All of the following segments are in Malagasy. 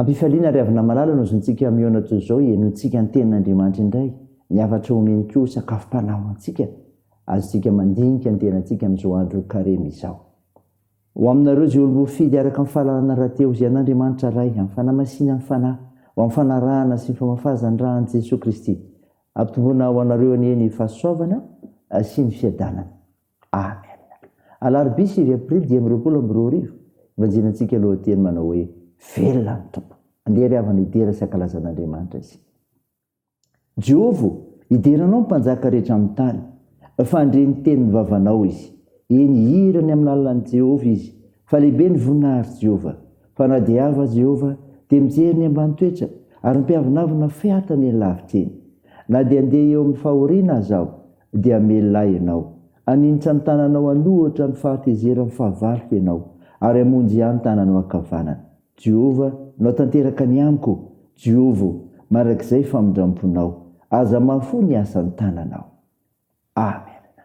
Am-pifaliana ry havana malala no zontsika mihaona toy izao hihenoantsika ny tenin'Andriamanitra indray, ny hafatra omeny koa ho sakafom-panahy ho antsika. Azontsika mandinika ny tenantsika amin'izao andro Karemy izao. Ho aminareo izay olom-boafidy araka ny fahalalana rahateo izay an'Andriamanitra Ray amin'ny fanamasinany fanahy, ho amin'ny fanarahana sy ny famafazany ra an'i Jesoa Kristy. Ampitomboina ho anareo anie ny fahasoavana sy ny fiadanana. Amen! Alarobia sivy aprily dimy amby roapolo amby roa arivo, ivanjelintsika lohateny manao hoe, Velona ny Tompo! Andeha ry havana hidera sy hankalaza an'Andriamanitra isika. Jehovah ô, hidera anao ny mpanjaka rehetra amin'ny tany, fa handre ny tenin'ny vavanao izy. Eny, hihira ny amin'ny lalan'i Jehovah izy, fa lehibe ny voninahitr'i Jehovah. Fa na dia avo aza Jehovah, dia mijery ny ambany toetra, ary ny mpiavonavona fehatany eny lavitra eny. Na dia handeha eo amin'ny fahoriana aza aho, dia hamelona ahy Ianao. Haninitra ny tananao an'ohatra ny fahatezeran'ny fahavaloko Ianao, ary hamonjy ahy ny tananao ankavanana. Jehovah, Nao tanteraka ny amiko! Jehovah ô, mandrakizay famindram-ponao! Aza mahafoy ny asan'ny tananao. Amena.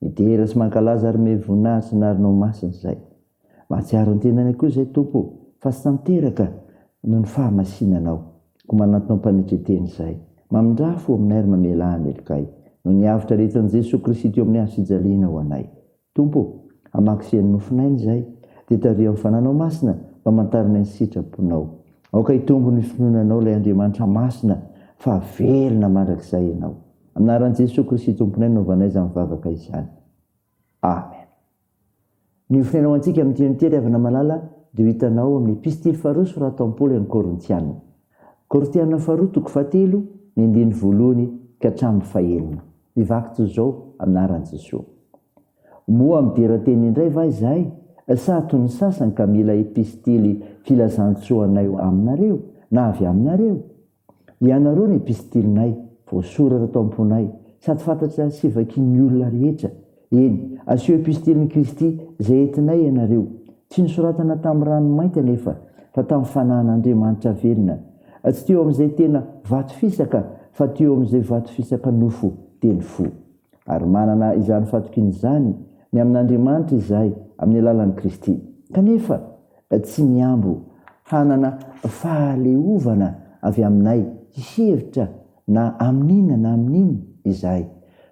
Midera sy mankalaza ary me voninahitra ny anaranao masina izahay. Mahatsiaro ny tenanay koa izay Tompo o, fa tsy tanteraka noho ny fahamasinanao. Koa manantona ho mpanetriteny izahay. Mamindrà fo aminay ary mamelà ny helokay. Noho ny avotra aretin'i Jesoa Kristy teo amin'ny hazo fijaliana ho anay. Tompo o, hamaky sy hanonofy n'aina izahay, dia tariho amin'ny Fananao Masina mba hamantaranay ny sitraponao. Aoka hitombo ny finoana anao ilay Andriamanitra masina fa velona mandrakizay ianao. Anaran'i Jesoa Kristy Tomponay no anaovanay izany vavaka izany. Amen. Ny ofrena ho antsika amin'ity andro ity ry havana malala dia ho hitanao ao amin'ny epistily faharoa soratan'i Paoly an'ny Korintiana. Korintiana faharoa toko fahatelo ny andininy voalohany ka hatramin'ny fahenina. Mivaky toy izao anaran'i Jesoa. Moa midera teny indray va izahay sa toy ny sasany ka mila epistily filazantsoa anay aminareo na avy aminareo? Ianareo ny epistilinay, voasoratra tao am-ponay, sady fantatra sy vakian'ny olona rehetra. Eny, asio epistilin'i Kristy, izay entinay ianareo. Tsy nosoratana tamin'ny rano mainty anefa, fa tamin'ny Fanahin'Andriamanitra velona. Tsy teo amin'izay tena vato fisaka, fa teo amin'izay vato fisaka nofo, dia ny fo. Ary manana izany fatokiana izany ny amin'Andriamanitra izahay amin'ny alalan'i Kristy. Kanefa tsy mihambo hanana fahaleovana avy aminay hihevitra na amin'inona na amin'inona izahay,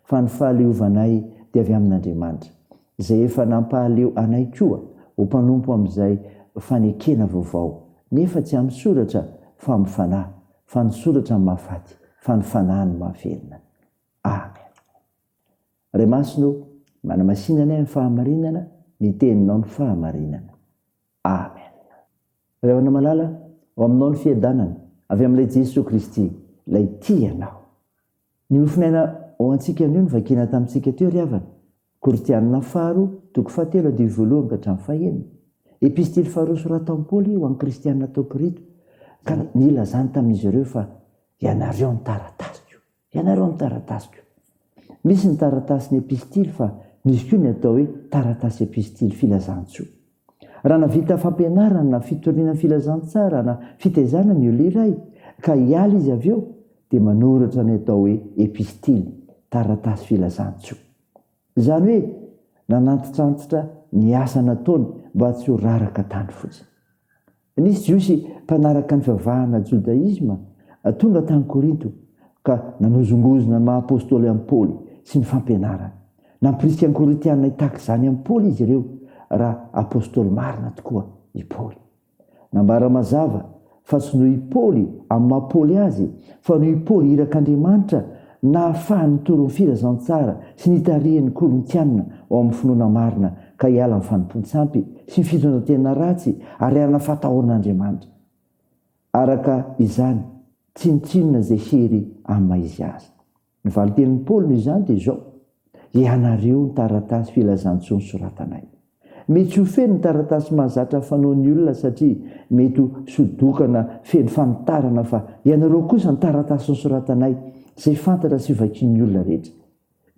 fa ny fahaleovanay dia avy amin'Andriamanitra, izay efa nampahaleo anay koa ho mpanompo amin'izay fanekena vaovao, nefa tsy amin'ny soratra, fa amin'ny fanahy, fa ny soratra mahafaty, fa ny fanahy no mahavelona. Amen. Ray Masina ô, manamasina anay amin'ny fahamarinana, ny Teninao no fahamarinana. Amen. Ray Havana Malala, ao Aminao ny fiadanana, avy amin'ilay Jesoa Kristy, ilay tia Anao. Ny mofon'aina ao antsika anio no vakina tamintsika teo ry havana, Korintianina faharoa, toko fahatelo andininy voalohany ka hatramin'ny fahenina. Epistily faharoa soratan'i Paoly ho an'ny Kristianina tao Korito, ka nilazany tamin'izy ireo fa ianareo ny taratasiko. Ianareo amin'ny taratasiko. Misy ny taratasin'ny epistily fa misy koa ny atao hoe taratasy epistily filazantsoa. Raha nahavita fampianarana na fitoriana filazantsara na fitaizana ny olona iray ka hiala izy avy eo dia manoratra ny atao hoe epistily, taratasy filazantsoa. Izany hoe nanantitrantitra ny asa nataony mba tsy ho raraka tany fotsiny. Nisy Jiosy mpanaraka ny fivavahana jodaisma tonga tany Korinto ka nanozongozona ny maha apostoly an'i Paoly sy ny fampianarany. Nampirisika ny Korintiana hitaky izany amin'i Paoly izy ireo raha apostoly marina tokoa i Paoly. Nambara mazava fa tsy noho i Paoly amin'ny maha Paoly azy fa noho i Paoly irak'Andriamanitra Nahafaha nitory ny filazantsara sy nitarihan'ny Korintiana ao amin'ny finoana marina ka hiala amin'ny fanompoan-tsampy sy ny fitondran-tena ratsy ary hanana fahatahoran'Andriamanitra. Araka izany, tsinontsinona izay hery amin'ny maha izy azy. Ny valintenin'i Paoly noho izany dia izao, Ianareo ny taratasy filazantsoa nosoratanay. Mety ho feno ny taratasy mahazatra fanaon'ny olona satria mety ho sodokana feno fanitarana fa ianareo kosa ny taratasy nosoratanay izay fantatra sy vakian'ny olona rehetra.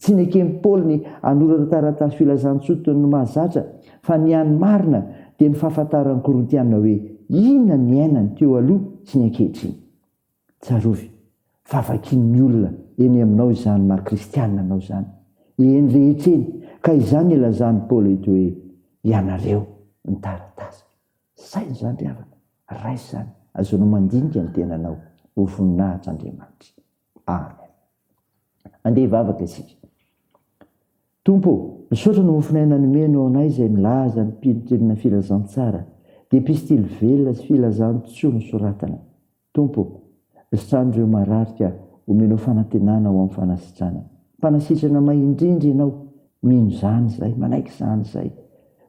Tsy neken'i Paoly ny hanoratra taratasy filazantsoa toy ny mahazatra fa ny hany marina dia ny fahafantaran'ny Korintiana hoe inona ny iainany teo aloha sy ny ankehitriny. Tsarovy fa vakian'ny olona eny aminao izany maha kristiana anao izany, eny rehetra eny, ka izany ilazan'i Paoly eto hoe, ianareo ny taratasy. Saino izany ry havana, raiso izany, azonao mandinika ny tenanao ho voninahitr'Andriamanitra. Amen. Andeha hivavaka isika. Tompo ô, misaotra ny mofon'aina nomenao anay izay milaza ny mpino tolona filazantsara, dia epistily velona sy filazantsoa nosoratana. Tompo ô, sano ireo marary ka omenao fanantenana ho amin'ny fanasitrana. Mpanasitrana may indrindra Ianao, mino izany izahay, manaiky izany izahay.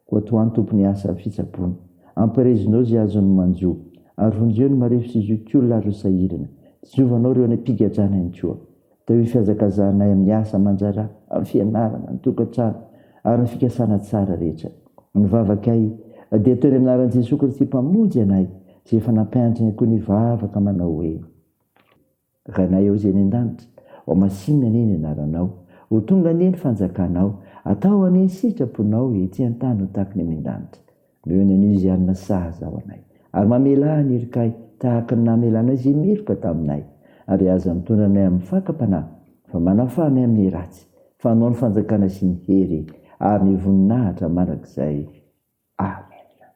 Koa tohano Tompo ny asa fitsaboana. Ampirezinao izay azon'ny manjo, ary vonjeo ny marefo sy zokiolona ary ireo sahirana. Tsinjovanao ireo any am-pigadrana ihany koa. Teo ny fihazakazahanay amin'ny asa aman-draharaha, amin'ny fianarana, ny tokantrano ary ny fikasana tsara rehetra. Ny vavakay dia teo ny amin'ny anaran'i Jesoa Kristy Mpamonjy anay izay efa nampianatra ny akoho nivavaka manao hoe, Ranay ao izay any an-danitra, ho masinina anie ny anaranao, ho tonga anie ny fanjakanao, atao anie ny sitraponao ety an-tany ho tahaka ny any an-danitra. Leo ny anio izay hanina sahaza ho anay, ary mamelà ny irikay tahaka ny namelanao izay meloka taminay, ary aza mitondra anay amin'ny fakam-panahy, fa manafaha anay amin'ny ratsy, fa anao ny fanjakana sy ny hery ary ny voninahitra mandrakizay. Amena.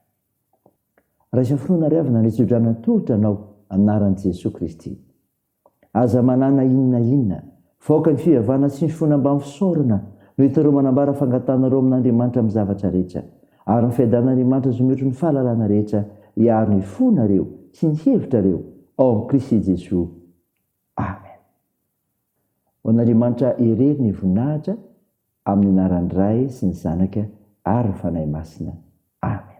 Raisa finoana ary avy nandray tsodrano natolotra anao, amin'ny anaran'i Jesoa Kristy. Aza manana inona inona. Faoka ny fivavahana sy ny finoana mba misaorana no hitan'ireo manambara fangatahanareo amin'Andriamanitra amin'ny zavatra rehetra. Ary ny fiadanan'Andriamanitra izay mihoatry ny fahalalana rehetra hiaro ny fonareo sy ny hevitrareo ao amin'i Kristy Jesoa. Amen. Ho an'Andriamanitra irery ny voninahitra amin'ny anaran'ny Ray sy ny Zanaka ary ny Fanahy Masina. Amen.